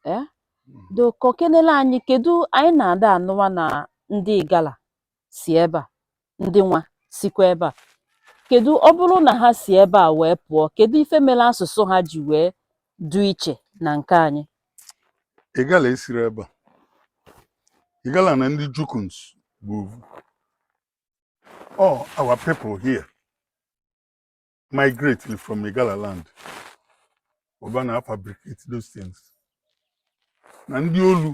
eh do kọkenele anyị kedu anyị na-ada anụwa na ndị igala si ebe a ndị nwa sikwa ebe a kedu ọ bụrụ na ha si ebe a wee pụọ kedu ife mere asụsụ ha ji wee du iche na nke anyị igala esiro ebe a igala na ndị jukuns bụ ovu all our people here migrated from Igala land ọ ba na-afabricate those things na ndị olu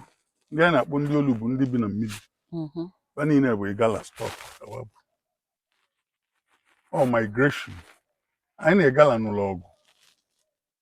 ndị a na-akpọ ndị olu bụ ndị bi na mmiri mm-hmm. ba niile bụ Igala stock all migration anyị na Igala nụlụ ọgụ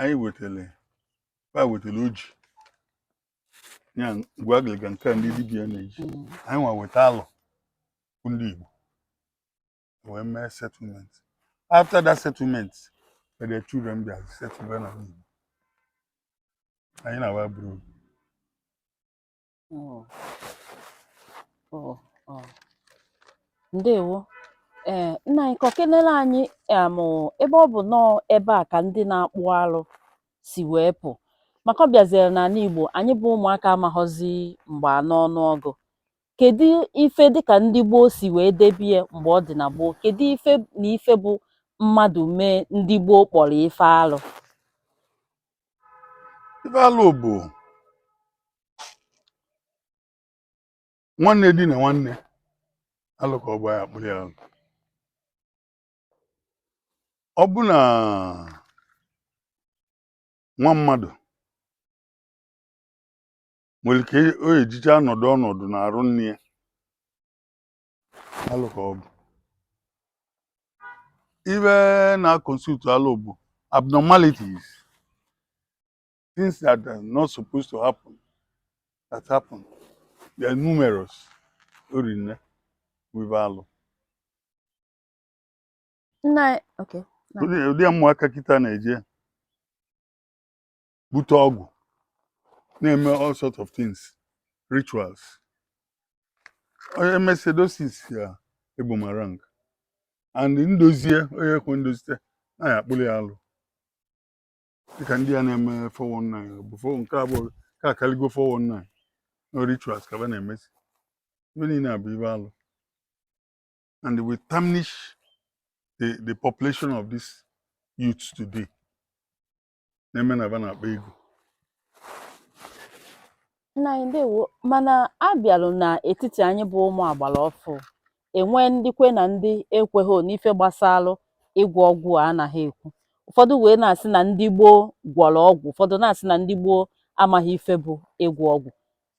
anyị wetara ba wetara oji nya ngwu agịrịga nke a ndị dibịa na-eji Mm. anyị nwa weta alọ bụ ndị Igbo wee mee settlement after that settlement the children bịa settle na Igbo anyị na ba bụrụ Oh. Oh, oh. Ndewo. Ee, eh, nna anyị kọkenere anyị um, ebe ọ bụ nọọ ebe a ka ndị na-akpụ alụ si wee pụ maka ọ bịaziere n'anị Igbo anyị bụ ụmụaka amaghọzi mgbe anọ ọnụ ọgụ kedu ife dịka ndị gboo si wee debie mgbe ọ dị na gboo kedu ife na ife bụ mmadụ mee ndị gboo kpọrọ ife alụ ife alụ bụ nwanne dinaa nwanne alụ ka ọ bụ anyị akpụrụ ya alụ ọ bụ na nwa mmadụ nwere ike o ejicha ọnọdụ ọnọdụ n'arụ nne ya alụ ka ọ bụ ife na-constitute alụ bụ abnormalities things that are not supposed to happen that happen they are numerous orinne wụ ife alụ nna okay Na. ụdị ụdị ụmụaka kịta na-eje bute ọgwụ na-eme all sort of things rituals onye mesie those things ya eboomerang and ndozie onye kwe ndozi then anyị akpụrụ ya alụ dịka ndị a na-eme 419 before nke a bụ ka akaligo 419 no rituals ka ba na-emezi ife niile a bụ ife alụ and it will tarnish the, the population of this youth today na-eme na ba na-akpa ego Nna anyị ndewo mana abịalụ n'etiti anyị bụ ụmụ agbara ọfụ enwe ndị kwe na ndị ekweghị n'ife gbasalụ ịgwọ ọgwụ a anaghị ekwu ụfọdụ wee na-asị na ndị gboo gwọrọ ọgwụ ụfọdụ na-asị na ndị gboo amaghị ife bụ ịgwọ ọgwụ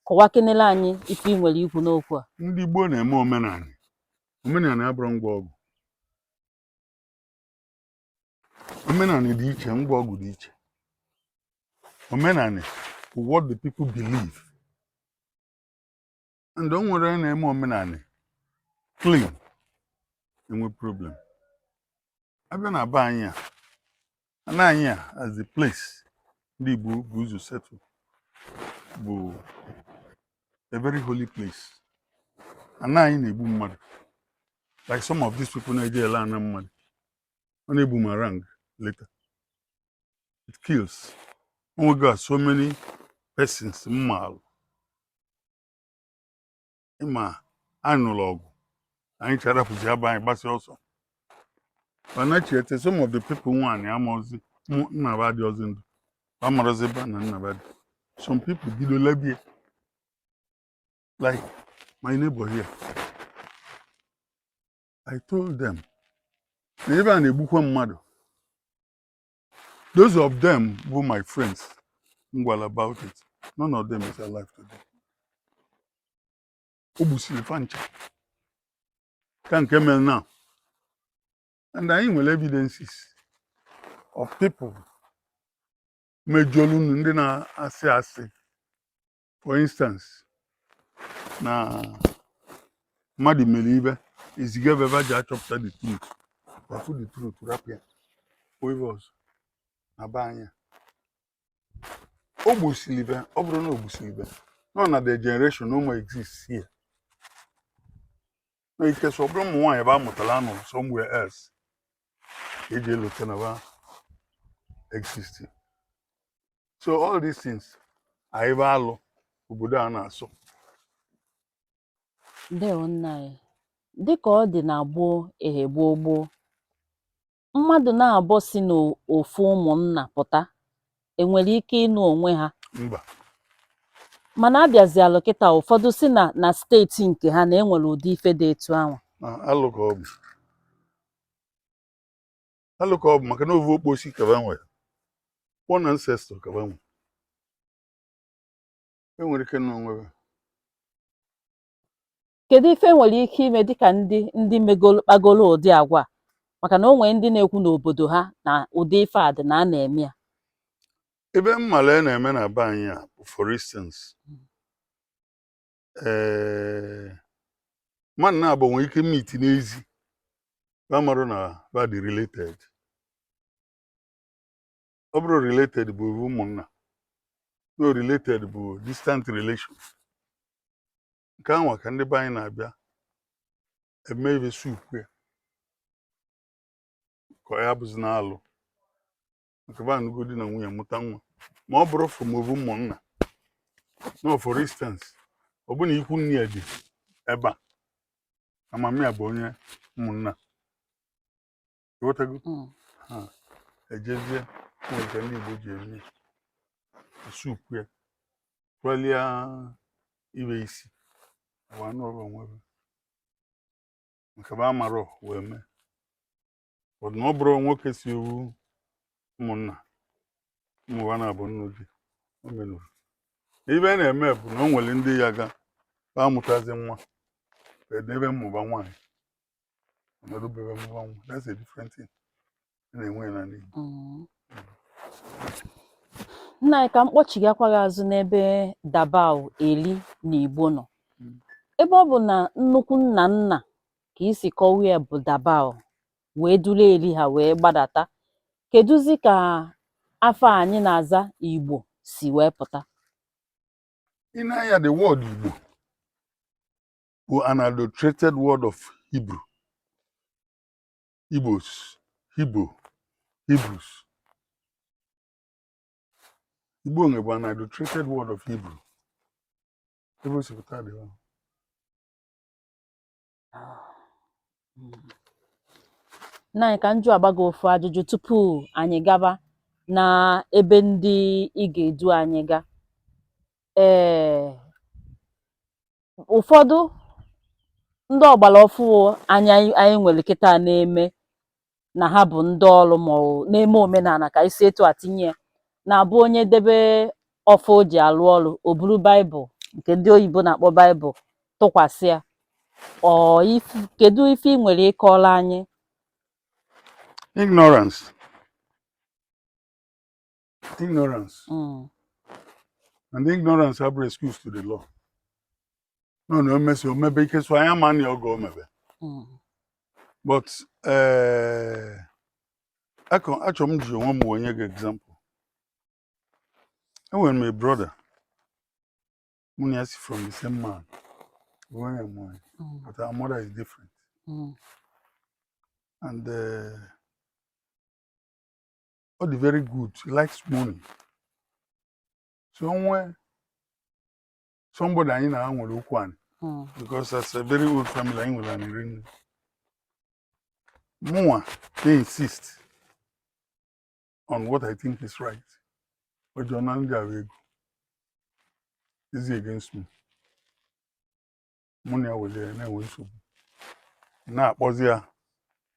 kọwakenere anyị ife ị nwere ikwu n'okwu a ndị gboo na-eme omenanị omenanị abụrọ ngwa ọgwụ omenanị dị iche ngwa ọgwụ dị iche omenanị bụ what the people believe and o nwerọ onye na-eme omenanị clean enwe problem abịa na be anyị a ana anyị a as the place ndị Igbo bu ụzọ settle bụ a very holy place ana anyị na-egbu mmadụ like some of these people na-eje ele ana mmadụ ọ na-eboomerang later it kills o nwego so many persons m maalụ ị ma a nụrụ ọgụ anyị ncha rapụzia be anyị gbasịa ọsọ ba nachiete some of the people nwe anị amarọzi mụ nna ba dị ọzọ ndụ amarọzi ebe ana nna ba dị some people bido lebie like my neighbor here I told them na ebe a na-egbukwa mmadụ those of them bụ my friends m gwalụ about it none of them is alive today o gbusiri fa ncha ka nke mere now and anyị nwere evidences of people mejọlụnụ ndị na-asị asị for instance na mmadụ mere ive eziga ba ba je achọpụta the truth ba fụ the truth rapụ ya ọ ive a sọ na be anyị a o gbusiri ive ọ bụrụ na o gbusiri ive nọ na the generation no more exist here na except ọ bụrụ ụmụ nwaanyị ba mụtara anụ somewhere else eji elota na ba existing so all these things are ive alụ obodo a na-asọ ndewo nna anyị dịka ọ dị na gboo ehe gboo gboo mmadụ naabọ si n'ofu ụmụnna pụta enwere ike ịnụ onwe ha mba mana abịazialụ kịta ụfọdụ si na na steeti nke ha na enwere ụdị ife dị etu ahụ na alụ ka ọ bụ alụ ka ọ bụ maka na ovu okposi ka ba nwere one ancestor ka ba nwere e nwere ike nụ onwe ha. kedu ife e nwere ike ime dịka ndị ndị megolo kpagolo ụdị agwa a? maka na o nwere ndị na-ekwu n'obodo ha na ụdị ife a dị na a na-eme ya ive m malụ a na-eme na be anyị a bụ for instance ee mmadụ naabọ nwere ike meet n'ezi ba amarọ na ba dị related ọ bụrọ related bụ ovu ụmụnna no related bụ distant relation nke anwa ka ndị be anyị na-abịa eme ive sukpuo ya ka ya abụzina alụ nke ba anụgo di na nwunye mụta nwa ma ọ bụrọ from ovu ụmụnna no for instance ọ bụ na ikwu nne ya dị ebe a mama ya bụ onye ụmụnna ị ghọtago Mm. ha ejezie were nke ndị igbo ji eme sukpuo ya tụọlịa ive e si wee nụrụ onwe ba maka ba amarọ wee mee But na ọ bụrụ nwoke si ovu ụmụnna ụmụ ba naabọ nnu ji o menurọ ive a na-eme bụ na o nwere ndị ya ga ba amụtazi nwa edebe ụmụ ba nwaanyị ọ nọdụ be ba mụba nwa that's a different thing a na-enwe ya n'ala Igbo Mm. nna anyị ka m kpọchighakwa gị azụ n'ebe dabawu eli na igbo nọ Mm. ebe ọ bụ na nnukwu nna nna ka i si kọwa ya bụ dabawu wee duru eri ha wee gbadata kedụzi ka afa anyị na-aza igbo si wee pụta ị na-anụ ya the word igbo bụ an adulterated word of hebrew igbos hebrew hebrews igbo nwe bụ an adulterated word of hebrew ebe o si pụta dị ọhụrụ nna anyị ka m jụagba gị ofu ajụjụ tupu anyị gaba na ebe ndị ị ga-edu anyị ga ee ụfọdụ ndị ọgbara ọfụụ anyị anyị nwere kịta na-eme na ha bụ ndị ọrụ mmụọ na-eme omenala ka anyị si etu a tinye ya na-abụ onye debe ọfọ o ji alụ ọrụ o buru baịbụl nke ndị oyibo na-akpọ baịbụl tụkwasị ya ọ if- kedu ife ị nwere ịkọrọ anyị ignorance ignorance mm. and ignorance abụrọ excuse to the law nọ na omesi omebe ike so anya ma na oge omebe mm. but eh, achọ m iji onwe m wee nye gị example enwere m a brother mụ na ya si from the same man nwunye m nwanyị but our mother is different mm. and uh, ọ dị very good he likes money so o nwe somebody anyị na ha nwere okwu anị Mm. because it's a very old family anyị nwere anị ri nne mụnwa dey insist on what i think is right ọ join ndị nwe ego is against me mụ na ya were na-enwe nsogbu na-akpọzi ya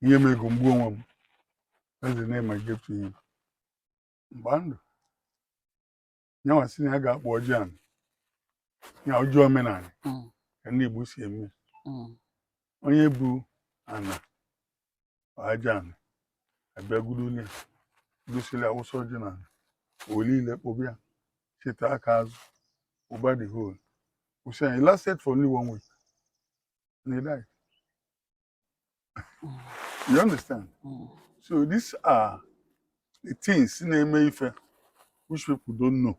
e nye m ego m gbuo onwe m that's the name i gave to him mgba ndụ nyanwa si na ya ga-akpọ ọjị anị ya ọjị omenanị Mm, ka ndị Igbo si eme mm, onye bu ana aja anị abịagoro onye gosiri awụsa ọjị na olile kpọbịa cheta aka azụ over the whole issue he lasted for only one week and he died you understand mm. so these are the things na-eme ife which people don't know